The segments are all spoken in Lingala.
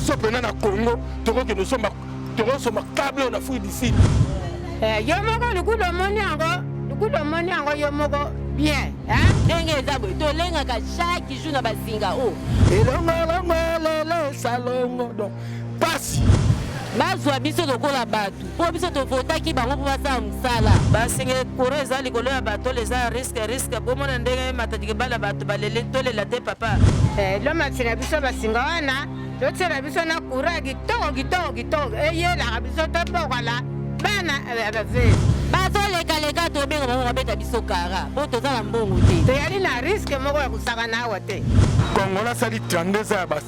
biso pena na congo tokokende osomba tokosomba kable oyo na fruit du sud eh, yo moko lukudo omoni yango lukudo omoni yango yo moko bien ndenge eza boye tolengaka chaque jour na basinga o oh. elongolongo elele salongo pasi bazwa biso lokola bato mpo biso tovotaki bango mpo basala mosala basenge koro eza likolo ya bato oyo eza riske riske bomona ndenge matadike bala bato balele tolela te papa eh, lomati na biso basinga wana totyela biso na kura ya kitoko kitoko kitoko eyelaka biso tobokola bana eh, bave eh, bazolekaleka tobenga bango babeta biso kara mpo toza na mbongo te toyali na riske moko ya kosakana awa te kongola asali 32 ya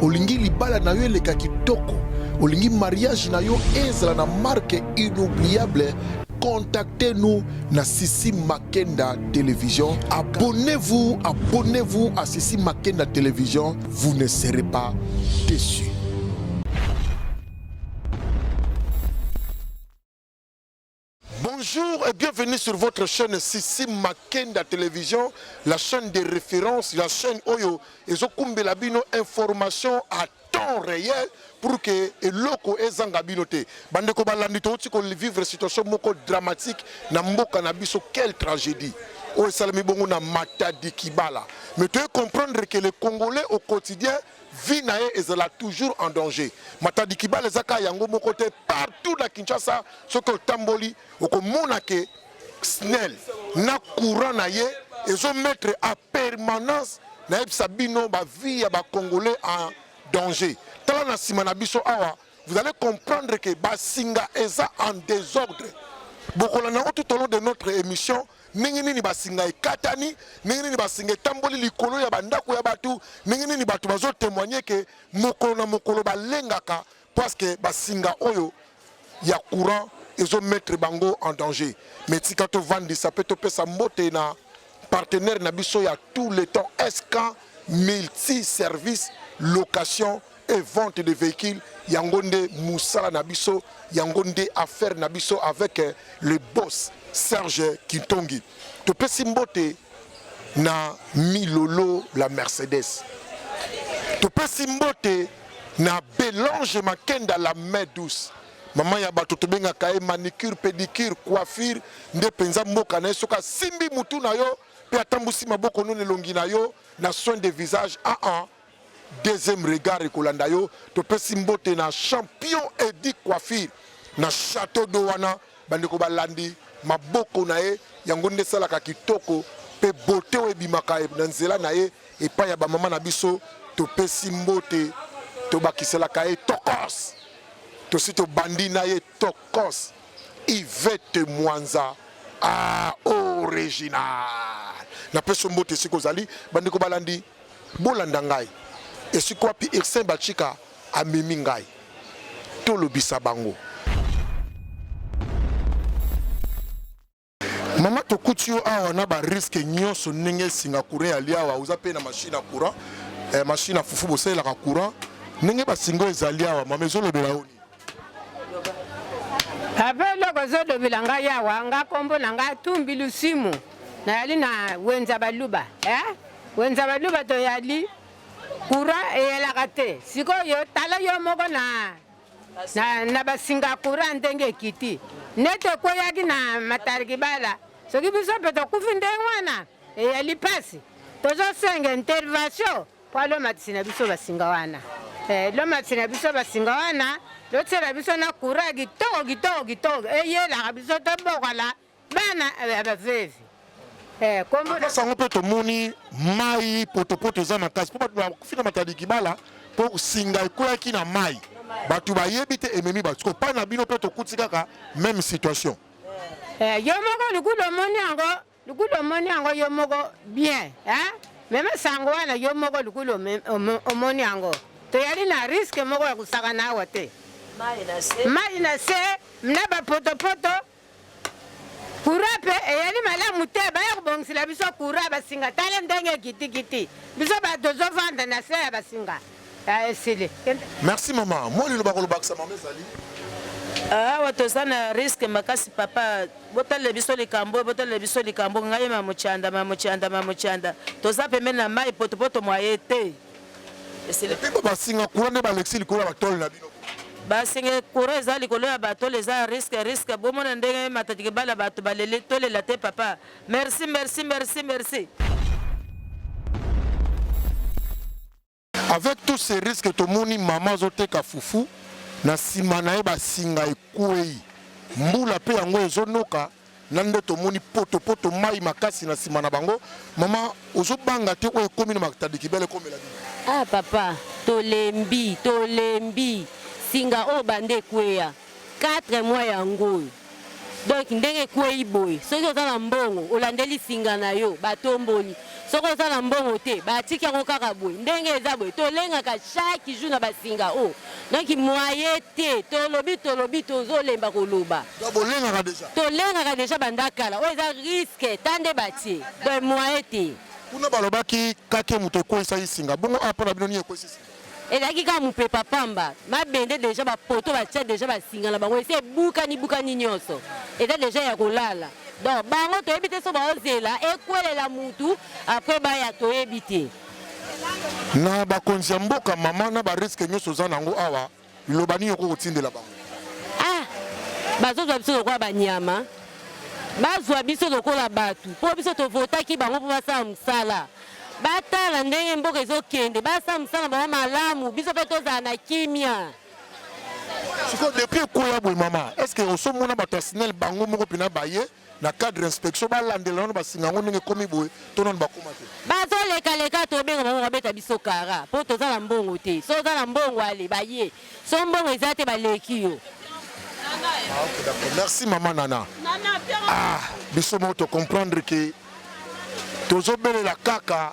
Olingi libala na yo eleka kitoko? Olingi mariage na yo ezala na marque inoubliable? Contactez-nous na Sissi Makenda Télévision. Abonnez-vous, abonnez-vous à Sissi Makenda Télévision. Vous ne serez pas déçus. Bonjour et bienvenue sur votre chaîne Sissi Makenda Télévision, la chaîne de référence, la chaîne Oyo et Zokumbela Bino information à temps réel pour que eloko ezanga bino te. Bande ko balandi to ko vivre situation moko dramatique na mboka na biso quelle tragédie. Oyo esalami bongo na Matadi Kibala. Mais tu comprendre que les Congolais au quotidien vie na ye ezala toujours en danger matadi kibala eza kaka yango moko te partout na kinshasa soki otamboli okomona ke snel na courant na ye ezomettre a permanence nayebisa bino bavie ya bacongolais en danger tala na nsima na biso awa vous allez comprendre ke basinga eza en désordre bokolanda yango tout au long de notre émission ndenge nini basinga ekatani, ndenge nini basinga etamboli likolo ya bandako ya bato, ndenge nini bato bazotemoigne ke mokolo na mokolo balengaka paske basinga oyo ya courant ezomettre bango en danger. Mais tika tovandisa mpe topesa mbote na partenaire na biso ya tout le temps SK multi service location et vente de véhicules yango nde musala na biso yango nde affaire na biso avec euh, le boss Serge Kintongi topesi mbote na Milolo la Mercedes topesi mbote na Belange Makenda la main douce mama ya bato tobengaka ye manicure pédicure coiffure nde mpenza mboka na ye soki asimbi mutu na yo mpe atambwisi maboko noni elongi na yo na soin de visage aa ah, ah. Deuxième regard ekolanda yo topesi mbote na champion Eddy Coiffure na chateau d'eau wana bandeko balandi maboko na ye yango nde esalaka kitoko mpe bote oyo ebimaka na nzela na ye epai ya bamama na biso topesi mbote tobakiselaka ye tokos tosi tobandi na ye tokos ivete mwanza a ah, original napesi mbote esika ozali bandeko balandi Bolanda ngai esika wapi Ursin Bachika amemi ngai. Tolobisa bango. Mama tokuti yo awa na ba risque nyonso ndenge esinga courant ya liawa oza mpe na machine ya courant eh, machine ya fufu bosalelaka courant ndenge basinga ezali awa mama ezolobela yo Papa eloko ozolobela ngai yawa nga kombo na ngai tumbi lusimu nayali na wenza baluba eh? wenza baluba toyali kura eyelaka te sikoyo tala yo moko na, na, na basinga kura ndenge ekiti nete ekweyaki na matarikibala soki biso mpe tokufi ndenge wana eyali mpasi tozosenga intervention Pwa lo matisi na biso basinga wana. Eh, lo matisi na biso basinga wana. Lo tsela biso na kura kitoko kitoko kitoko. Eh, yelaka biso to bokola. Bana eh, eh, bavevi. Eh, kombo na sango pe to moni mai poto poto za makasi. Po ba ba fina matadi kibala. Po singa kura ki na mai. Batu ba yebi te ememi batu. Ko pa na bino pe to kutika ka même situation. Eh, yo moko lukudo moni ango. Lukulu omoni yango yo moko bien hein? Meme sango wana yo moko lukulu omoni yango. Toyali na risque moko ya kusakana awa te. Mai na se na ba potopoto courant mpe eyali malamu te baya kobongisela biso courant basinga tala ndenge ekitikiti biso bato tozofanda na se ya basinga Ah, esili. Merci mama. Mwa liloba kolobakisa mama ezali. Ah, awa toza na riske makasi papa botalela biso likambo oyo botalela biso likambo ngai mamuchanda mamuchanda mamuchanda toza pembeni na mai potopoto mwa ye te basinga kura nde balekisi likolo ya batole na bino basinga kura eza likolo ya batole eza riske riske bomona ndenge matadike bala bato baleli tolela te papa merci merci merci merci Avec tous ces risques tomoni mama azoteka fufu na nsima na ye basinga ekwei mbula mpe yango ezonoka na nde tomoni potopoto mai makasi na nsima na bango mama ozobanga te oyo ekomi na matadikibele ekomela bino ah papa tolembi tolembi singa oyo bande ekweya Quatre mois yango oyo donc ndenge ekweyi boye soki oza na mbongo olandeli singa na yo batomboli soki oza na mbongo te batiki yango kaka boye ndenge eza boye tolengaka chaque jour na basinga oyo donc moye te tolobi tolobi tozolemba koloba Donc bolengaka deja. tolengaka deja banda kala oyo eza riske ta nde batie donc moye te Kuna balobaki kake moto ekweisaki singa. Bongo awa mpo na bino nini ekweisi singa? ezalaki kaka mopepa pamba mabende deja bapoto batya deja basinga na bango esi ebukani bukani nyonso eza deja ya kolala donc bango toyebi te so baozela ekwelela mutu apres baya toyebi te na bakonzi ya mboka mama na bariske nyonso oza na yango awa Liloba nini okoki kotindela bango? Ah, bazozwa biso lokola banyama, bazwa biso lokola bato, mpo biso tovotaki bango mpo basala mosala. Batala ndenge mboka ezokende, basala mosala bango malamu, biso mpe tozala na kimia. Siko depuis ekoya boye mama, est-ce que osomona bato ya SNEL bango moko mpena baye na cadre inspection balandela nano basinga yango ndenge ekomi boye to nano bakoma te bazolekaleka tobenga bango babeta biso kara mpo toza na mbongo te so oza na mbongo ale baye so mbongo eza te baleki yo ah, okay, d'accord. merci mama nana ah, biso moko tocomprendre ke tozobelela kaka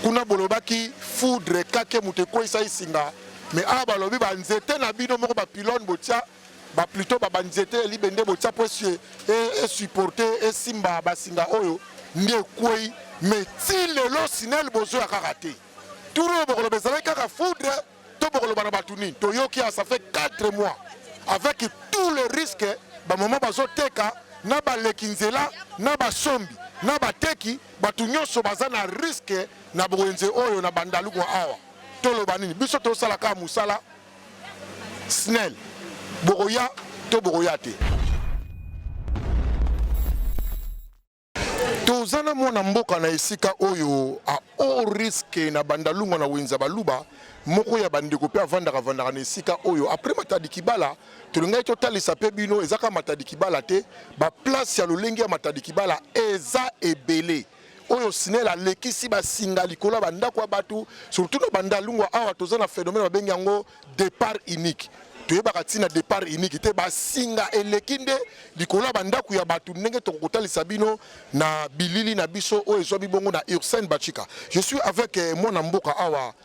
kuna bolobaki foudre kake moto ekweisa esinga mais awa balobi banzete na bino moko bapilone botia ba plutot ba banzete ya libende botia po esupporte esimba basinga oyo nde ekwei mais ti lelo sinel bozoya kaka te tour oyo bokoloba ezalaki kaka foudre to bokoloba na bato nini toyoki ya ça fait 4 mois avec tout le risque bamama bazoteka na baleki nzela na basombi na bateki bato nyonso baza na riske na bowenze oyo na bandaluku awa toloba nini biso tosalaka mosala snel bokoya to bokoya te toza na mwana mboka na esika oyo a o riske na bandalungwa na wenza baluba moko ya bandeko mpe avandaka vandaka na esika oyo apres matadi kibala tolingaki totalisa mpe bino ezaka matadi kibala te baplace ya lolenge ya matadi kibala eza ebele oyo SNEL alekisi basinga likolo ya bandako ya bato surtout na bandalungwa awa toza na phénomène babengi yango départ unique toyebaka ntina départ unique te basinga eleki nde likolo ya bandako ya bato ndenge tokokotalisa bino na bilili na biso oyo ezwami bongo na ursene bachika je suis avec eh, mwana mboka awa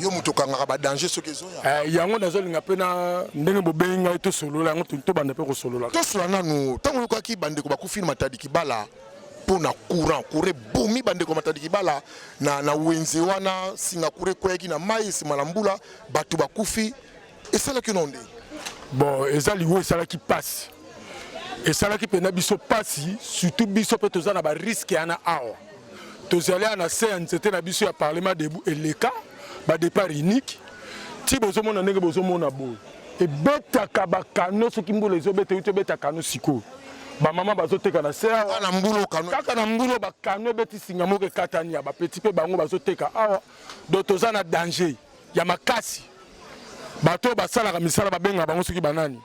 yo moto okangaka badanger soki ezoya eh, yango nazolinga mpe na ndenge bobengi ngai tosolola yango tobanda mpe kosolola tosolola nanu ntango oyokaki bandeko bakufi na matadi kibala mpo na courant courant ebomi bandeko ya matadi kibala na, na wenze wana singakura ekweyaki na mai nsima na mbula bato bakufi esalaki no nde bon eza liwa esalaki mpasi esalaki mpenza biso mpasi surtout biso mpe toza na bariske yana awa tozali awa na se ya nzete na biso ya parlement debu eleka badepart unique ti bozomona ndenge bozomona boye ebetaka bakano soki mbula ezobeta euti obeta kano sikoyo bamama bazoteka na se awa na mbulo kano kaka na mbulo bakano ebeti singa moko ekatani ya bapeti mpe bango bazoteka awa donc toza na danger ya makasi bato oyo basalaka misala babengaka bango soki banani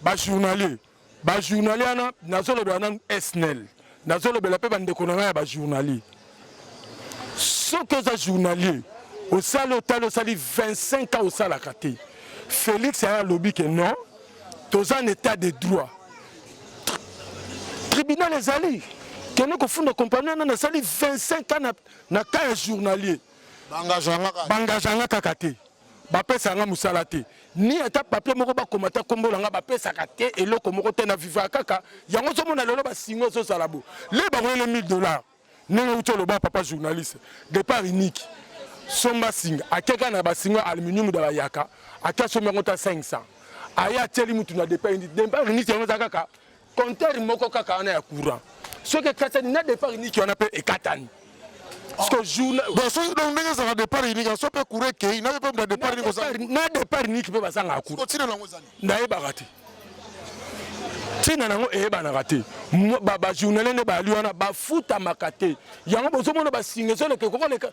bajournalier bajournalier wana nazolobela nanu snel nazolobela mpe bandeko na ngai ya bajournalier soki oza journalier osali otali osali 25 ans osalaka te félix aya alobi ke non toza na état de droit tribunal ezali kende kofunda kompani wana nasali 25 ans na, na cas ya journalier bangazwa nga kaka te bapesaka nga mosala te ni ata papier moko bakoma ata nkombo na nga bapesaka te eloko moko te na vivaka kaka yango ozomona lelo basinga ezozala bo le bakoyele 1000 dollars ndenge uti oloba papa journaliste départ unique somba singa akeka na basinga aluminium da bayaka ake asombi yango ta 500 aye atieli mutu na départ unique départ unique yango eza kaka Compteur moko kaka wana ya courant. Soki ekatani na départ unique wana pe ekatani. Siko jour bon soki donc ndenge ezalaka départ unique aso pe courant ekei na pe na départ unique ozanga. Na départ unique pe bazanga courant. Siko tina nango ezali. Nayebaka te. ntina na yango eyebanaka te bajournaliste nde bali wana bafutamaka te yango bozomona basinga ezoleka ekokoleka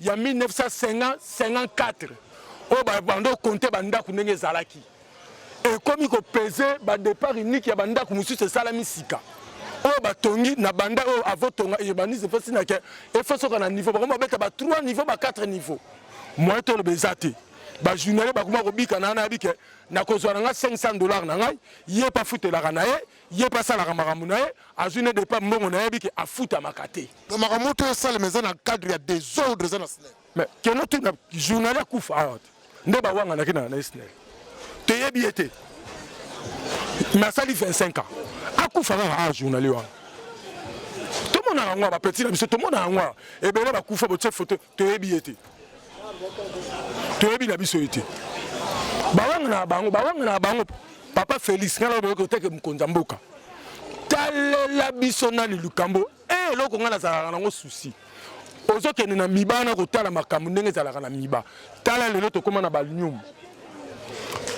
ya 1954 oyo babanda okonte bandako ndenge ezalaki ekomi kopese badepart unique ya bandako mosusu esalami sika oyo batongi na banda oyo avotonga urbanisme efasi na ke efasoka na niveau bakomi babeta ba 3 niveau ba 4 niveau moyen toloba eza te bajournalier bakoma kobika na wana yabi ke nakozwa na ngai 500 dollars na ngai ye mpe afutelaka na ye ye mpe asalaka makambo na ye azwi ne depa mbongo na yebi ke afutamaka te na makambo to esalema eza na cadre ya desordre eza na snel mais keno tuna journali akufa awa te nde bawanganaki na na snel toyebi ye te mais asali 25 ans akufa kaka awa journali wana tomonaka yango bapeti na biso tomonaka yango ebele bakufa botie foto toyebi ye te toyebi na biso ye te bawanga na bango bawanga na bango papa félix ngai naoboyoki oteke mokonzi ya mboka talela biso nani likambo e eh, eloko ngai nazalaka nango susi ozokende na miba na kotala makambo ndenge ezalaka na miba tala lelo tokóma na balium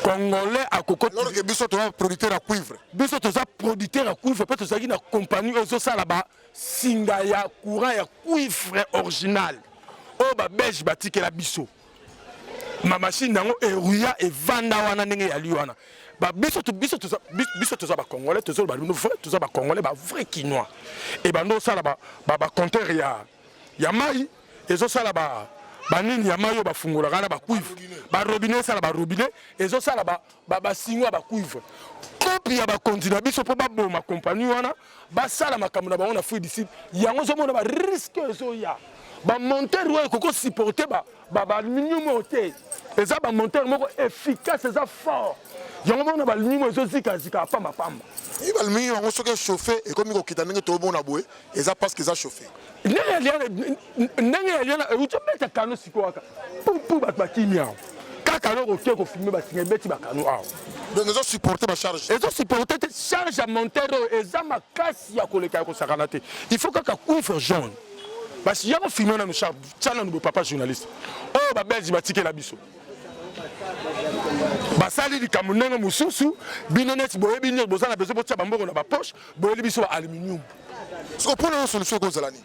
congolais akokotbiso toza producteur ya cuivre biso toza producteur ya cuivre mpe tozalaki na compagnie oyo ezosala ba Singa ya courant ya cuivre original oyo ba belge batikela biso ma machine yango eruya evanda wana ndenge eyali wana biso toza bacongolais tozoloba bino vrai toza bacongolais ba vrai kinois ebanda osala bacompteur ya mai ezosala banini ya mai oyo bafungolaka na bacuivre barobine esala barobine ezosala ba ba sinwa ba cuivre kopi ya bakonzi na biso mpo baboma kompani wana basala makambo na bango na fruit du sud yango ozomona ba risque ezoya bamontere oyo ekoki kosupporte baaluminium oyo te eza bamontere moko efficace eza fort yango mona baaluminium ezozikazika pambapamba aluminium yango soki echauffe ekomi kokita ndenge toomona boye eza parce que eza chauffe ndenge ya liana ndenge ya liana euti obeta kano sikoyo kaka pupu bato bakimi awa kaka eloko oke kofilme basinga ebeti bakano awa donc ezo supporte bacharge ezo supporte te charge ya monteur oyo eza makasi ya koleka ya kosakana te il faut kaka cuivre jaune basi ya kofilme nanu charge tya nanu bopapa journaliste oyo oh, babelge batikela biso basali likambo ndenge mosusu bino neti boyebi nini boza na besoin botya bambongo na bapoche boyeli biso ba aluminium soko mpo na yo solution ekozala nini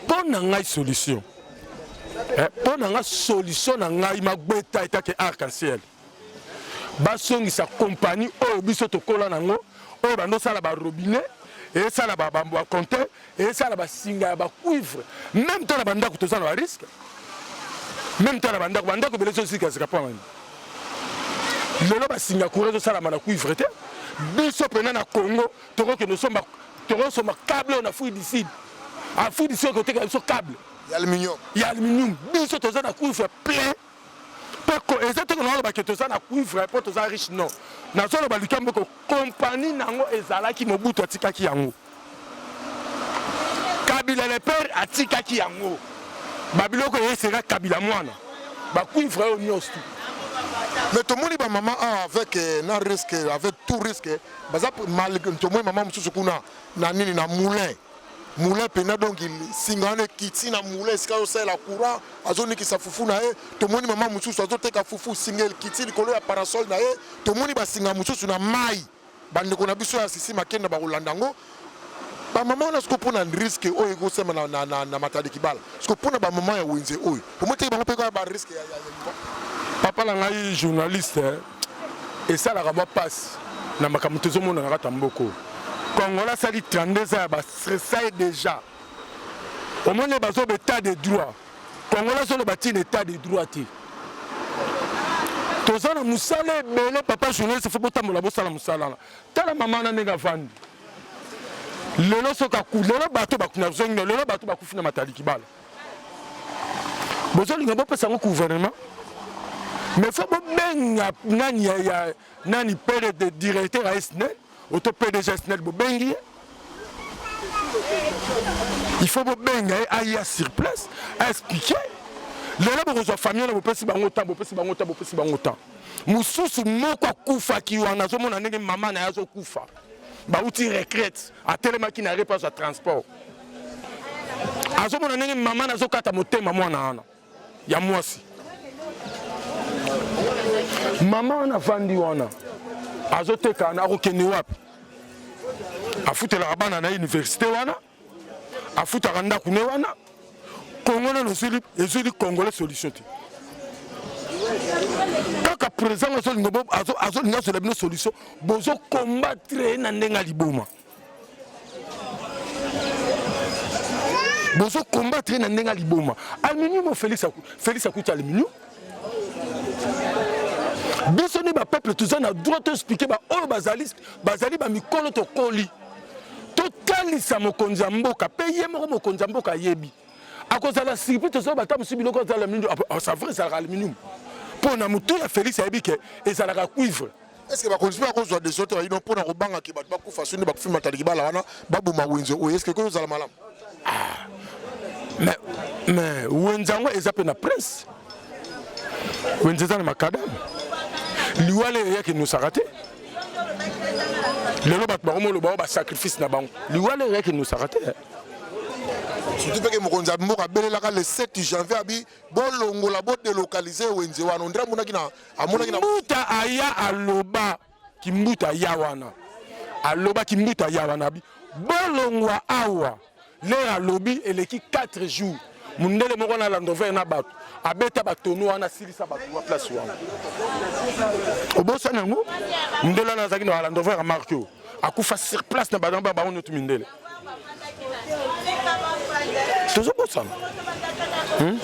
mpo na ngai solution eh, mpo na ngai solution na ngai magbeta etake arc en ciel basongisa kompani oyo biso tokola nango oyo bandosala barobinet esala baconte esala basinga ya bacuivre meme to na bandako toza na bariske meme to na bandako bandako ebele ezosikasika mpo nani lelo basinga courant ezosalama na cuivre te biso mpena na congo tokokende osomba tokosomba cable oyo na fruit du sud afrique du sud ekoteka biso cable ya aluminium biso toza na cuivre plein Poko eza te kona loba ke toza na cuivre po toza riche non. Nazo loba likambo ko compagnie nango ezalaki Mobutu atikaki yango. Kabila le père atikaki yango. Ba biloko ye sera Kabila mwana. Ba cuivre oyo nyonso tout. mais tomoni bamama awa avec eh, na risque avec tout risque baza tomoni mama mosusu kuna na nini na moulin moulin mpenza donc nsinga wana ekiti na moulin esika azosalela courant azonikisa fufu na ye tomoni mama mosusu azoteka fufu nsinga ekiti likolo ya parasole na ye tomoni basinga mosusu na mai bandeko na biso ya sisi makenda bakolanda yango bamama wana siko mpona riske oyo ekosema na, na, na, na matadi kibala siko mpona bamama ya wenze oyo omoteki bango mpe kaka bariske ya, ya, ya, ya papa na ngai journaliste esalaka mwa mpasi na makambo tozomona na kati ya mboko kongola asali 32 ans ya bastresa ye déjà omoni bazoba état de droit kongola azoloba ntina état de droit te toza na mosala ebele papa journaliste fo botambola bosala mosala wana tala mama wana ndenge avandi lelo soki lelo bato bakuna zongi lelo bato bakufi na matali kibala bozolinga bopesa yango gouvernement mais fo bobenga nani ya, ya nani pere de directeur ya snel oto pdg snel bobengi ye il faut bobenga ye aya sur place aexplike lelo bokozwa famille na bopesi bango temps bopesi bango temps bopesi bango temps mosusu moko akufaki wana azomona ndenge mama na ye azokufa bauti retraite atelemaki na repa azwa transport azomona ndenge mama nazokata motema mwana wana ya mwasi mama wana afandi wana azoteka wana akokende wapi afutelaka bana na université wana afutaka ndako ne wana kongo nano ezwili congolais solution te kaka président azolinga azola bino solution bozokombattre ye na ndenge ya liboma bozo combattre na ndenge liboma aluminium Felix Felix akuti aluminium biso nde bapeuple toza na droit toexplike baoyo bazali bazali bamikolo tokoli totalisa mokonzi ya mboka mpe ye moko mokonzi ya mboka ayebi akozala surprise tozoya bata mosusu biloko azala aluminium ah, ah, c'est vrai ezalaka aluminium mpo na motu ya Felix ayebi ke ezalaka cuivre Est-ce que bakonzi ba kozwa des autres ino pona kobanga ke bato bakufa soni bakufi matali kibala wana baboma wenze oyo est-ce que koyo zala malamu? Ah. Mais mais wenze yango eza pe na prince. Wenze eza na makadam. Liwale eyaki nusaka te. Lelo bato bakomi oloba ba sacrifice na bango. Liwale eyaki nusaka te. surtout mpe ke mokonzi ya mboka abelelaka le 7 janvier abi bolongola bodelokalize wenze wana ondire amonaki na amonaki na mbuta aya aloba kimbuta ya wana aloba kimbuta ya wana bi bolongwa awa lere alobi eleki 4 jours mundele moko na landover na bato abeta batono wana asilisa bato wa place wana obosani yango mundele wana azalaki na landover ya marke akufa sur place na banamba bango nyoto mindele tozobosana hmm?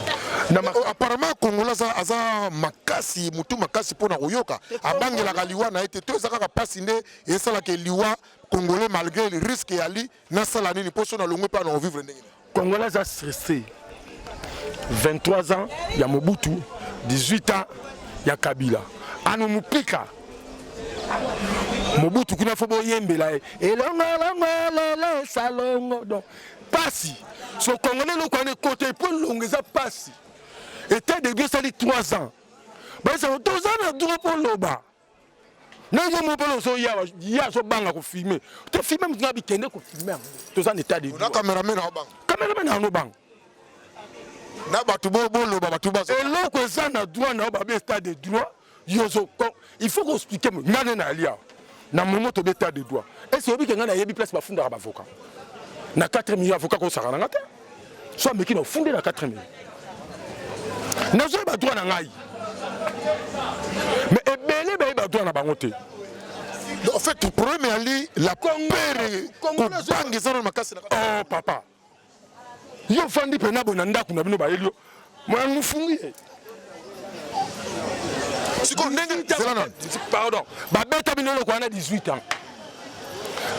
oh, apparemment kongola aza makasi motu makasi mpo na koyoka abangelaka liwa na ye te to eza kaka mpasi nde esalaka liwa congolais malgré risque yali nasala nini mpo so nalongwe mpe na kovivre ndenge Congolais aza stressé. 23 ans ya Mobutu, 18 ans ya Kabila. Ano mupika. Mobutu kuna fo boyembela ye. Elongo longo lele salongo. Donc pasi. So Congolais loko ane kote po longo eza pasi. Etat de Dieu sali 3 ans. Baisa toza na droit po loba. ndenge yo mobolo ozoya ya azobanga kofilme to filme moto na bikende kofilme yango toza na etat de cameraman yango banga na bato boloba bato bazo eloko eza na droit na yo babe etat de droit yo il faut koexplike nga nde nayali awa na momo tobe etat de droit ese oyebi ke ngai nayebi place bafundaka bavoka na 4 million avoka kosaka na nga te so ameki na ofunde na 4 minutes nazoyeba droit na ngai mais ebele bayeba droit na bango te en fait problème ali la pere kobanga eza na makasi oh papa yo fandi mpena boye na ndako na bino bayeli yo moya mofungi ye sikoyo ndenge pardon babeta bino eloko wana 18 ans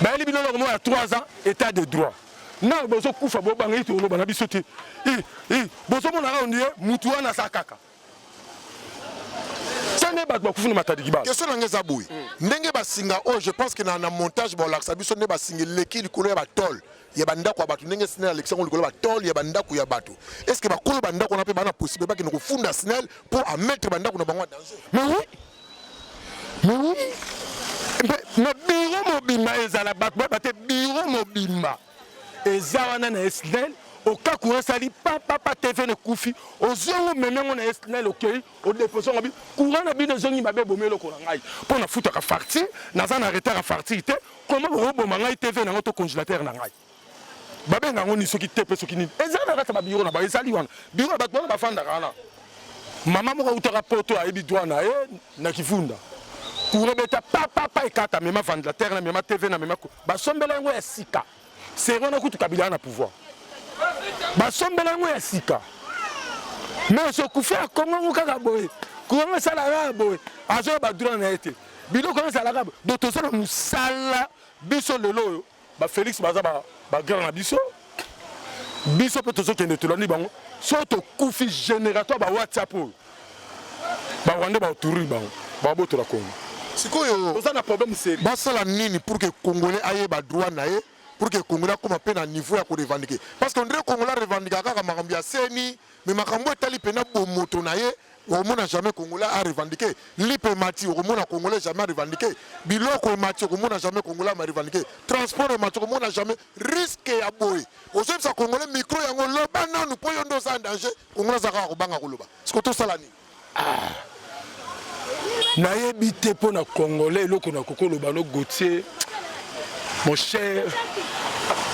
bayeli bino eloko moko ya 3 ans état de droit na bozo kufa bo banga ito loba na biso te i i bozo mona ka ondie mutu wana sa kaka sane bato bakufi na matadi kibala question nanga eza boye mm. ndenge basinga oyo je pense que na, na montage baolakisa biso nde basinga eleki likolo ya batole ya bandako ya bato ndenge snel alekisa yango likolo ya batole ya bandako ya bato est ce que bakolo bandako wana mpe bana possible bakende kofunda snel mpo amettre bandako na bango ya danger mais oui Mais oui, na biro mobimba ezala bato bayeba te biro mobimba eza wana na esnel okaku esali papapa tv nekufi ozwi yango meme yango na esnel okei odepose yango bi courant na bino ezongi mabe ebomi eloko na ngai mpo nafutaka fartir naza na retard ya fartir te koma bokoboma ngai tv na yango to congélateur na ngai babenga yango nini soki tepe soki nini ezali na kati ya babiro na bango ezali wana biro ya bato wana bafandaka wana mama moko autaka poto ayebi dwa na ye na kifunda courant beta papapa ekata mema vandlatere na mema tv na mema basombela yango ya sika seri wana kutu kabila na pouvoir basombela yango ya sika mais sokufa ya kongo yango kaka boye courant yango esalaka ya boye azoya badura na ye te biloko yango ezalaka boye do toza na mosala biso lelo oyo ba Felix baza ba ba grand na biso biso pe tozo kende tolandi bango so tokufi générateur ba WhatsApp oyo ba Rwandais ba tourner bango ba boto la Congo sikoyo oza na problème sérieux basala nini pour que congolais ayeba droit na ye pour que congolais akoma mpe na niveau ya korevandike parce que ondire congolais arevandika kaka makambo ya seni mais makambo etali pena bomoto na ye okomona jamais congolais a revendiquer lipe emati okomona congolais jamais a revendiquer biloko emati okomona jamais congolais a revendiquer transport emati okomona jamais risque ya boye ozoyebisa congolais micro yango loba nanu mpo yo nde oza en danger congolais aza kaka kobanga koloba siko tosala nini Ah. nayebi te mpo na congolais eloko na kokoloba no gautier mon cher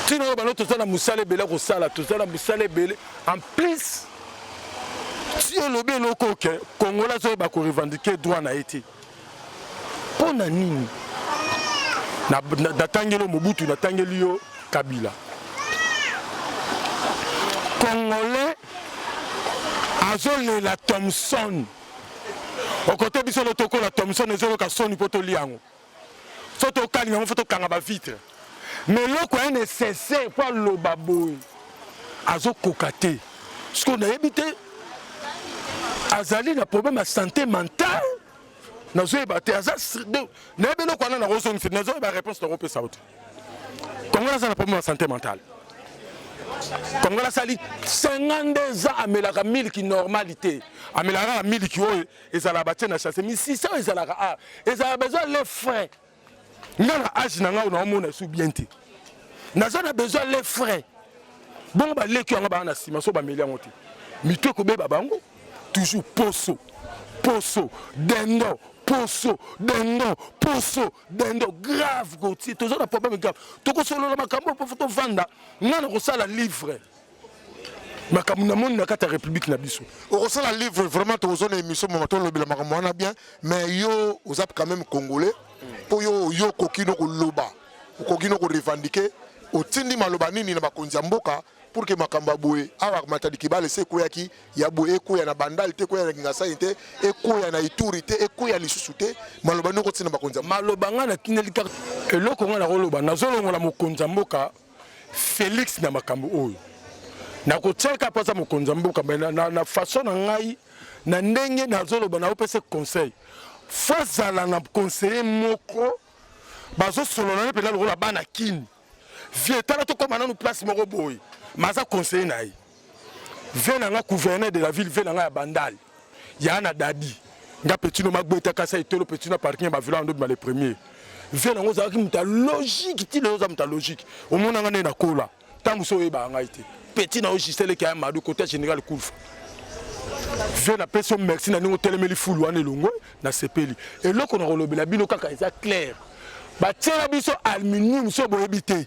ntina oyo bano toza na mosala ebele kosala toza na mosala ebele en plus ti olobi eloko oke congolais azoyeba korevendike droit na ye te Mpo na nini natangeli yo Mobutu, natangeli yo Kabila? Congolais azolela Thomson okote biso lotokola Thomson ezoloka soni mpo tolia yango fo tokalinga yango fo tokanga bavitre mais eloko ya necessaire mpo aloba boye azokoka te sikoyo nayebi te azali na problème ya santé mentale nazoyeba te aza nayebi eloko wana nakozongisa nazoyeba réponse nakopesa yo te kongola aza na problème ya santé mentale kongola asali 52 ans amelaka miliki normali te amelaka kaka miliki oyo ezalaka batie na chasse misisa oyo ezalaka a ah, ezalaka besoin le frais nga na age na ngai naomona esu bien te naza na besoin le frais bongo baleki yango baa na nsima so bameli yango te mitu ekobeba bango toujours poso poso dendo poso dendo poso dendo grave gotier toza na problème grave tokosolola makambo oyo mpo fo tovanda ngai nakosala livre makambo na moni na kati ya république na biso okosala livre vraiment tokozwa na émission mama tolobela makambo wana bien mais yo oza quand même congolais mpo yo yo okoki no koloba okoki no korevendiquer otindi maloba nini na bakonzi ya mboka pour que makambo ya boye awa matadi kibale se ekweyaki ya boye ekweya na bandal te ekweya na kingasani te ekweya na ituri te ekweya lisusu te maloba nini okotinda bakonzi maloba ngai natindeli kaka eloko ngai nakoloba nazolongola mokonzi ya mboka Felix na makambo oyo nakotiaka mpo aza mokonzi ya mboka me na, na, na façon na ngai na ndenge nazoloba naopesa conseil fo azala na conseiller moko bazosolola ne mpenza lokola bana kini vie tala tokóma nanu place moko boye ma aza conseiller na ye vie na nga gouverneur de la ville vie na nga ya bandal ya na dadi nga petit no magbeta kasa etolo petit na parking ya ba villa ndo bima le premier vie na ngo za ki muta logique ti le za muta logique au mona nga ne na kola tangu so yeba nga ite petit na ojisele ki amadu kota general kulfa vie na pesi merci na ningo telemeli fulu wana elongwe na sepeli eloko na kolobela bino kaka eza clair batiela biso aluminium so boyebi te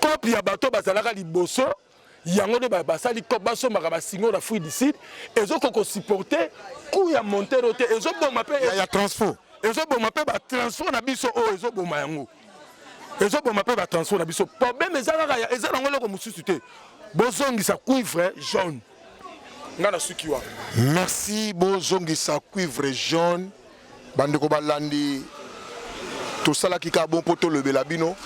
Coop ya bato bazalaka liboso yango nde basali coop basombaka basingo na fruit du sud ezokoka kosupporte coût ya montero te ezoboma mpe ya transfo ezoboma mpe batransfo na biso oyo oh, ezoboma yango ezoboma mpe batransfo na biso problème eza kaka eza nango eloko mosusu te bozongisa cuivre jaune nga na suki wa merci bozongisa cuivre jaune Bandeko balandi, tosalaki kaka bon mpo tolobela bino.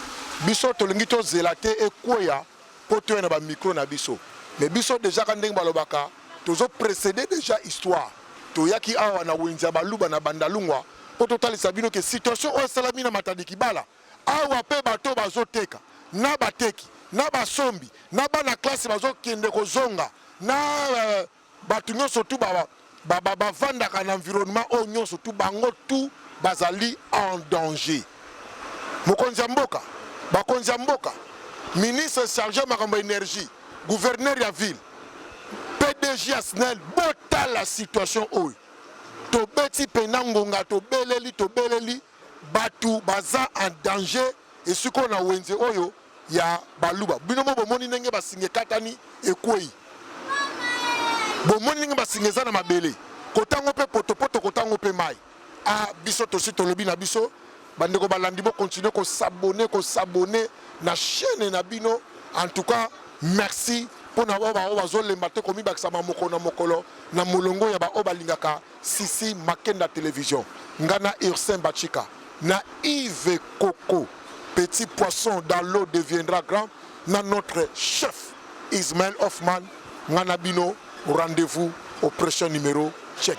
Biso tolingi tozela te ekweya mpo toya na bamikro na biso, me biso deja ka ndenge balobaka tozo precede deja histoire. Toyaki awa na wenze ya baluba na Bandalungwa mpo totalisa bino ke situation oyo esalami na Matadi Kibala awa mpe bato oyo bazoteka na bateki na basombi na bana classe bazokende kozonga na euh, Batu nionso tout ba ba ba bavandaka na environnement oyo nionso tout bango tout bazali en danger. Mokonzi ya mboka, bakonzi ya mboka, ministre charge ya makambo ya energie, gouverneur ya ville, pdg ya snel botala situation oyo. Tobeti pena ngonga tobeleli tobeleli. Batu baza en danger esika oyo na wenze oyo ya baluba bino mo bomoni ndenge basinga ekatani ekweyi bomoni ndenge basinga eza na mabele kotango mpe potopoto kotango mpe mai a ah, biso tosi tolobi na biso bandeko balandi bokontinue kosabone kosabone na chaine na bino en tout cas merci mpo na oyo baoyo bazolemba te komibakisama mokolo na mokolo na molongo ya baoyo balingaka Sisi Makenda Television, nga na Ursin Bachika na Yves Koko petit poisson dans l'eau deviendra grand na notre chef Ismaël Hoffman nga na bino rendez-vous au prochain numero check.